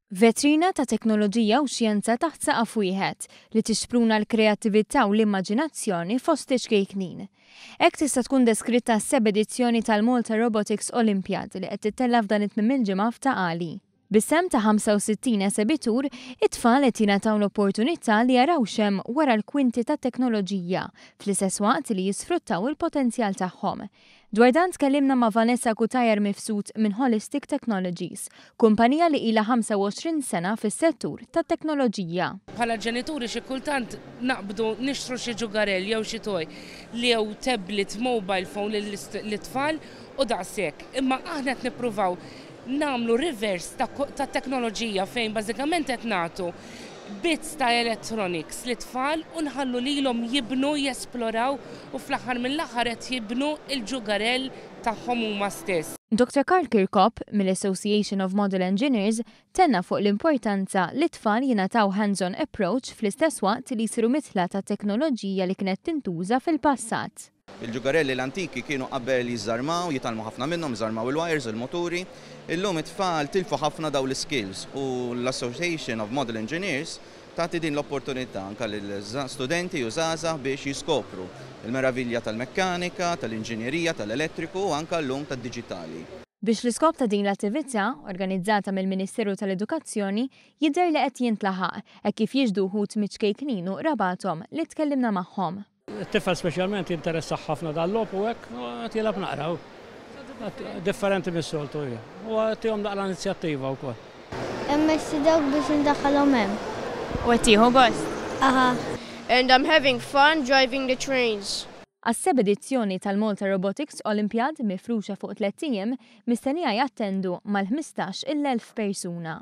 Vetrina ta' teknoloġija u xjenza taħt saqaf wieħed li tixpruna l-kreattività u l-immaġinazzjoni fost iċ-ċkejknin. Hekk tista' tkun deskritta s-seb' edizzjoni tal-Malta Robotics Olympiad li qed tittella' f'dan it-tmiem il-ġimgħa f'Ta' Qali. Bis-sehem ta' 65 esebitur, it-tfal qed jingħataw l-opportunità li jaraw x'hemm wara l-kwinti tat-teknoloġija, fl-istess waqt li jisfruttaw il-potenzjal tagħhom. Dwar dan tkellimna ma' Vanessa Cutajar Mifsud minn Holistic Technologies, kumpanija li ilha 25 sena fis-settur tat-teknoloġija. Bħala ġenituri xi kultant naqbdu nixtru xi ġugarell jew xi toy jew tablet, mobile phone lit-tfal u daqshekk. Imma aħna qed nippruvaw nagħmlu reverse ta' teknoloġija fejn bażikament qed nagħtu bits ta' electronics lit-tfal u nħallu lilhom jibnu, jesploraw u fl-aħħar mill-aħħar qed jibnu l-ġugarell tagħhom huma stess. Doctor Karl Kirkop, mill-Association of Model Engineers, tenna fuq l-importanza li t-tfal jingħataw hands-on approach fl-istess waqt li jsiru midħla tat-teknoloġija li kienet tintuża fil-passat. Il-ġugarelli l-antiki kienu qabel jiżżarmaw, jitgħallmu ħafna minnhom, iżarmaw il-wires, il-muturi. Illum it-tfal tilfu ħafna dawn l-iskills u l-Association of Model Engineers tagħti din l-opportunità anke lil studenti u żgħażagħ biex jiskopru l-meravilja tal-mekkanika, tal-inġinjerija, tal-elettriku u anke llum tad-diġitali. Biex l-iskop ta' din l-attività, organizzata mill-Ministeru tal-Edukazzjoni, jidher li qed jintlaħaq, hekk kif jixhdu wħud miċ-ċkejknin u qrabathom li tkellimna magħhom. It-tifel speċjalment jinteressah ħafna dal-logħob u hekk qed jilgħab naqra hu. Differenti mis-soltu hi. U tihom naqra inizjattiva wkoll. Immexxi dawk biex indaħħalhom hemm. U qed tieħu gost? Aha. And I'm having fun driving the trains. Għas-seba' edizzjoni tal-Malta Robotics Olympiad, mifruxa fuq tlett ijiem, mistennija jattendu mal-ħmistax il elf persuna.